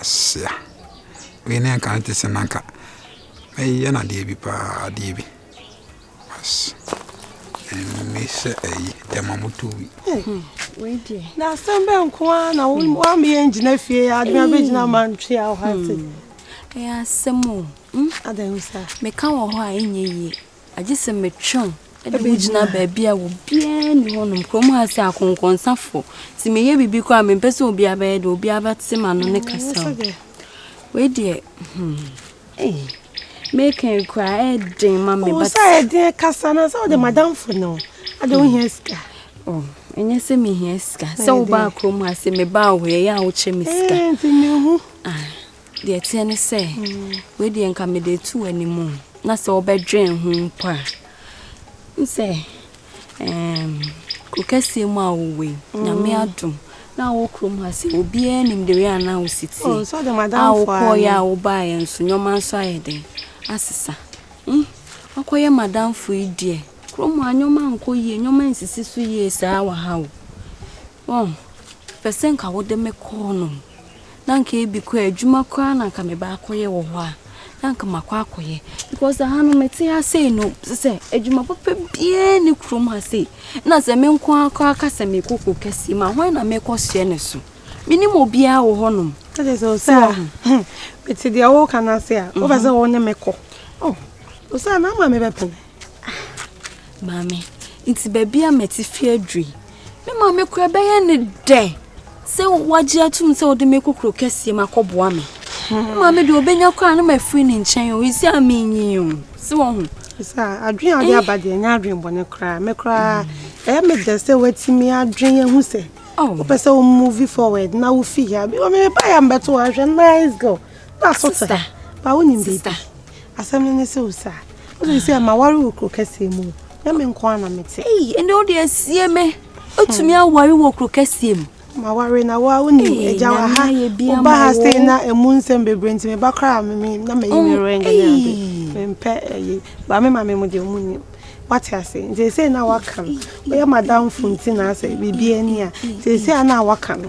Asia. Wei ne nka te sɛ nanka mɛyɛ no adeɛ bi paa adeɛ bi as ɛnne sɛ ɛyi ɛma moto wi na asɛm bɛ nko a na woameyɛ ngyina fie adwuma bɛgyina mantwe a wohate ɛyɛ asɛm o meka wɔ hɔ a ɛnyɛ yie Agye sɛ metwe wo de wo gyina baabi a obiara nni hɔnom kurom ha sɛ akɔnkɔnsafo nti meyɛ biribi koraa mempɛ sɛ obiara bɛyɛ deɛ obiara bɛte m'ano ne kasa o wei deɛ hmm ee meka koraa ɛden ma me ba sɛ ɛden kasa na sɛ wode hmm. madamfo no ade hmm. wohia sika oh, ɛnyɛ sɛ mehia sika sɛ wobaa kurom ha sɛ mebaa hɔ yɛyɛ a wokyɛ me sika eh, nti mehu ah. Deɛ ɛteɛ ne sɛ, wei deɛ nka mede reto w'anim o. Na sɛ wobɛdwen ho mpo a, wohu sɛ ɛɛm kuro kɛseɛ mu a wowɔ yi, Nyame adom na wɔ kurom ha sɛ obiara nim the way a na wo si O, teɛ. nso ɔde A madamfo a wokɔeɛ no. a wobaeɛ nso, nneɛma nso ayɛ dɛn? Asesa. Hmm, woakɔyɛ madamfo yi deɛ, kurom ha nneɛma nkɔ yie, nneɛma nsisi so yie saa wɔ ha o. Oh, mepɛ sɛ nka wode me kɔ hɔnom. Na anka ebi kɔ adwuma koraa na anka meba akɔyɛ wɔ hɔ a, na anka makɔ akɔyɛ. Because aha no mete ha sei no, sɛ sɛ adwuma papa biara ne kurom ha sei. Na sɛ me nko ara koraa ka sɛ mekɔ kuro kɛseɛ mu a, hwan na mekɔ hyɛ ne so? Menim obiara wɔ hɔnom. Ɛde sɛ ɔsɛ a, hmm, mete deɛ woka no ase a, wopɛ sɛ wo ne me kɔ. Oh, ɔsɛ a na ama mebɛpene. Maame, nti baabi a mɛte fi aduru yi, me maame kora bɛyɛ ne dɛ sɛ wagye atum sɛ ɔde me kokoro kɛseɛ ma kɔboa me. Hmm. Maame deɛ ɔbɛnya koraa no mafiri ne nkyɛn o, ɛsi a menyi o, sɛ wɔho. Sɛ adwene a ɔde eh. aba deɛ ɛnyɛ adwene bɔne koraa, me koraa ɛyɛ me dɛ sɛ watumi adwene ahu sɛ oh. wopɛ sɛ wo movie forward na wofi ha. Bi wɔ me mebaeɛ a mbɛto ahwɛ nice girl na asotɛ. Ba wonim baabi. Asɛm no ne sɛ o saa. Wode sɛ ɛma ware wɔ kuro kɛseɛ mu. Na me nko ara na mete. Ei, ɛnde wode asie me. Wotumi hmm. aware wɔ kuro kɛseɛ mu. Ma ware na wo a wonim agya wɔ ha. Woba ha sɛ na ɛmu nsɛm bebree nti meba koraa me na mayi me mm, ring ne ade. Mempɛ ɛyi. Eh, ba me ma me mu deɛ ɔmu nim. Wate ase. Nti ɛsɛ na waka no. Woyɛ madamfo nti na asɛ biribi ani a. Nti ɛsɛ na waka no.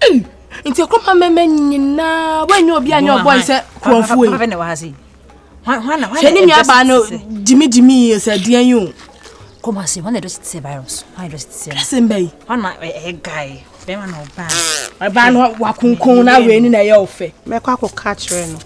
Ei, nti ɛkɔma mɛmɛ nyinaa woanyɛ obi anyɛ ɔbɔe sɛ kurɔfoɔ yi. Hwɛ ne nuabaa no gyimigyimi yi sɛ deɛn yi o. Come on, see, when they just say virus, when they just say. Same bay. When I a guy, bema no ban. I ban wa kunkun na we ni na ye ofe. Me kwa ko catch no.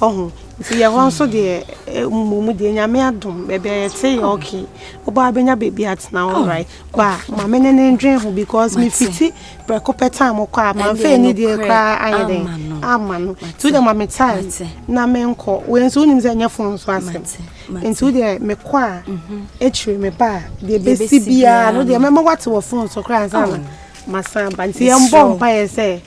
Wahu? Nti yɛn hɔ nso deɛ eh, mmom deɛ nyame adom baabi a yɛte yɛ okay wobaa bɛnya baabi atena oh, alright ba ma me ne ne ndwen ho because mefiti prɛko pɛ time kɔ a mamfa ani deɛ koraa ayɛ dɛn ama no nti wodeɛ ma me time na menkɔ wei nso wonim sɛ ɛnyɛ fon so asɛm nti wodeɛ mekɔ a mhm. akyiri me ba a deɛ bɛsi biara no deɛ mɛma woate wɔ fon so koraa ansa na oh. masan ba nti yɛmbɔ mpaeɛ sɛ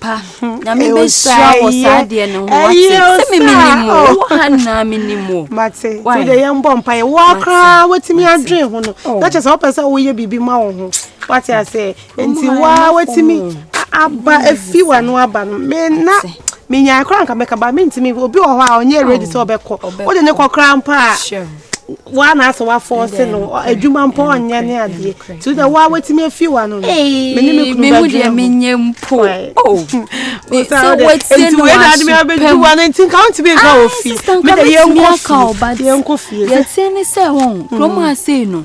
pa nyame bɛhyira wɔ saa deɛ no ho wate sɛ memenim mu wɔ ha nyinaa menim mu mate wode yɛmbɔ mpa yɛ woa koraa watumi adwene ho no na kyɛ sɛ wopɛ sɛ woyɛ biribi ma wo ho wate asɛ nti woa watumi aba afi wano aba no me na menyae koraa nka mɛka ba mentumi obi wɔ hɔ a ɔnyɛ ready sɛ ɔbɛkɔ wode ne kɔ koraa mpa a woa na asɛ woafɔɔse no adwuma mpo ɔnyɛ ne adeɛ nti wodɛ woa woatumi afi wa no no mene me kunu bɛdwene menyɛ mpo nti wei na ade me abɛdu wa no nti nka wontumi nka wɔ fie medɛ yɛnkɔ fie yɛnkɔ fie yɛteɛ ne sɛ wɔn kurom asei no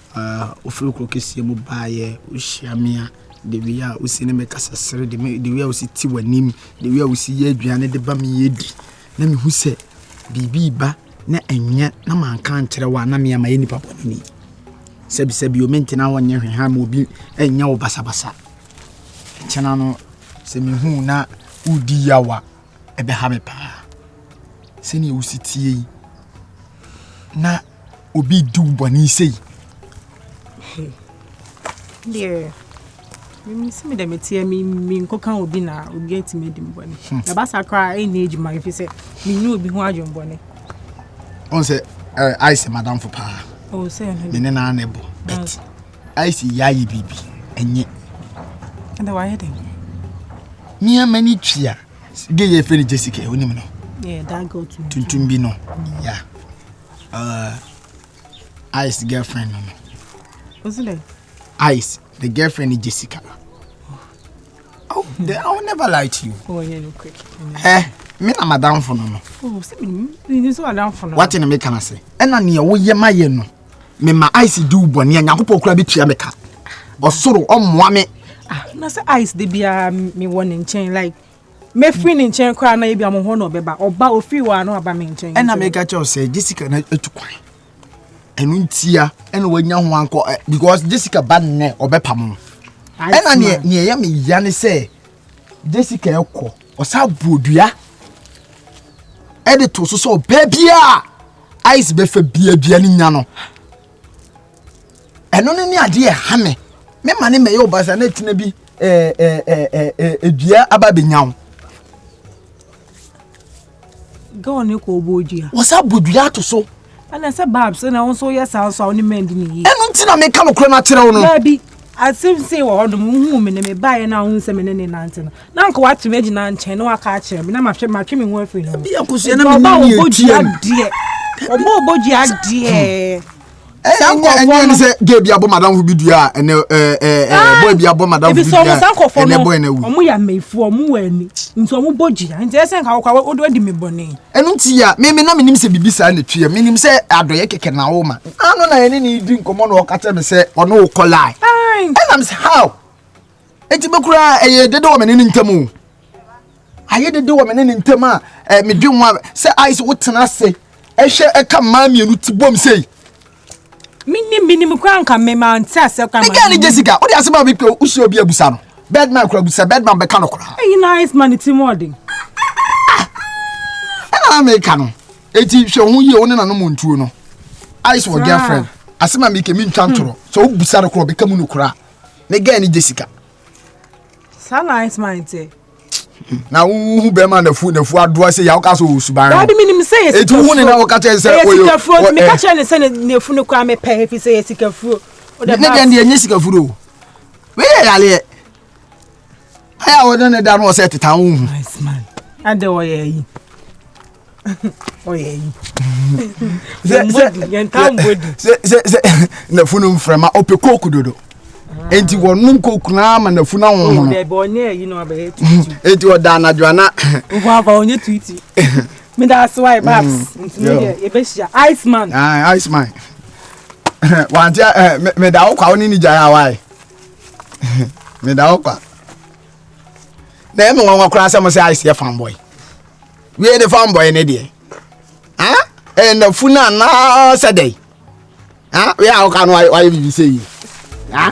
Ah, wofiri kuro kɛseɛ mu baeɛ, wohyia me a, the way a wosi ne me kasa sere, the me- the way a wosi te w'anim, the way a wosi yɛ aduane de ba me yɛ di. Na mehu sɛ biribi reba na ɛnyɛ na manka ankyerɛ wo a na me a mayɛ nipa bɔne ni. Sɛbisɛbi o, mentena hɔ nyɛ hwee ha ma obi nyɛ wo basabasa. Ɛkyena no, sɛ mehu wo na wodi yaw a, ɛbɛha me paa. Sɛnea wosi tie yi, na obi di wo bɔne sei deɛ mesi me dɛ meteɛ menkɔka obi na obi atumi adi mbɔne hmm. ɛba sa koraa ɛnyɛ adwuma ɛfi sɛ menni obi ho adwembɔne ɔn sɛ ice madamfo paa oh, me ne naa na ɛbɔ bet ice yɛayɛ biribi ɛnyɛ ɛdɛ wayɛ dɛn nneɛma ni tua gay yɛ fɛ ni jessica o nim no tuntum bi no ya uh, ice girlfriend no no ice the girlfriend ni jessica oh the, i will never lie to you oh, yeah, no, quick. eh me na madamfo no no oh, wate ne meka no ase ɛna neɛ woyɛ ma yɛ no mema ice di wo bɔne a nyankopɔn koraa bɛtua me ka ɔsoro ɔmmoa me ah, na sɛ ice de biara mewɔ ne nkyɛn like mɛfiri ne nkyɛn koraa na ebi amohɔ na ɔbɛba ɔba ɔfiri wɔ ano aba me nkyɛn ɛna meka kyɛw sɛ jessica na atu kwan ɛno ntia ɛna wanya ho ankɔ eh, because jessica ba nnɛ ɔbɛpam no ɛna neɛ ɛyɛ me ya ne sɛ jessica ɛkɔ ɔsa buodua ɛde to so sɛ ɔbaa biara ice bɛfa biabia ne nya no ɛno no ne adeɛ ɛha me me ma ne mɛyɛ ɔbasa na ɛtena bi eh, eh, eh, ɛdua aba bɛnya wo gɛw ne kɔ ɔbɔ dua wɔsa bɔ dua ato so ɛna sɛ babs na wo nso woyɛ saa nso a wo ne mɛndi ne yie ɛno nti na meka nokorɛ no akyerɛ wo no Asɛm sei wɔ hɔ nom, wohuu me no, mebaeɛ na wohuu sɛ me ne ne nante no, na anka watumi agyina nkyɛn na waka akyerɛ me, na mahwɛ matwe me ho afiri ne ho. Ebi akosua na mene ne etua no. Ɔbɔ obodua adeɛ. Ɛyɛ nyɛ ɛnyɛ ne sɛ gay bi abɔ madam ho bi dua a ɛnɛ ɛɛ ɛɛ boy bi abɔ madam ho bi dua ɛnɛ boy na wu. Ɔmo yɛ ameyifo ɔmo wɔ ani nti ɔmo bɔ dua nti ɛsɛ nka wɔkɔ a wɔde di me bɔne. Ɛnu ti ya mɛmɛ na menim sɛ bibi saa na etua menim sɛ adɔyɛ kɛkɛ na awo ma. Ano na yɛne ne di nkɔmmɔ na ɔka kyerɛ me sɛ ɔne wo kɔ line. Ɛna me sɛ how? Enti me koraa ɛyɛ dede wɔ me ne ne ntam o. Ayɛ dede wɔ me ne ne ntam a eh, medwe ho a sɛ ayɛ sɛ wotena ase ɛhwɛ ɛka mmaa mmienu ti bom sei. Menim menim koraa nka me ma nte asɛ koraa. Mega ne Jessica, wode asɛm a mekɔ wohyɛ obi abusa no. Birdman koraa busa, Birdman bɛka no koraa. Ɛyi na Iceman ti mu ɔden. Ɛna meka no. Eti hwɛ ho yie wo ne nanom ntuo no. Ice wɔ girlfriend. Asɛm a meke mi ntwa ntorɔ. Sɛ wo busa no korɔ bɛka mu no koraa. Ne guy ne Jessica. Saa na ice man te. Na wo hu bɛrima nafu nafu adoa sɛ yà woka sɛ ɔwɔ suban. Daabi mi nim sɛ yɛ sika fuo. Etu hu ne na wɔka kyerɛ sɛ ɔyɛ. Ɛyɛ sika fuo nti mi ka kyerɛ ne sɛ ne nafu no koraa mɛ pɛ efi sɛ yɛ sika fuo. Ne deɛ ne deɛ nye sika fuo. Wei yɛ yaleɛ. ayɛ a wɔde ne da no wɔ sɛ ɛteta wo hu ɛdɛ ɔyɛ ayi ɔyɛ ayi nafunu mfrɛma ɔpɛ kooku dodo ah. enti wɔnom kooku no ama nafunu ahohono enti ɔda anadwo ana meda ase wae babs mm. ntumi deɛ yɛbɛhyia iceman ah, iceman wante eh, meda wo kwa wo ne ne gyae a wae meda hɔ kwa na ɛmu nwanwa koraa sɛ mo sɛ ayɛ sɛ fanboy wie ne fanboy ne deɛ ah ɛyɛ nafu no anaa sɛ dɛn ah wei a woka no wayɛ biribi sɛ yi ah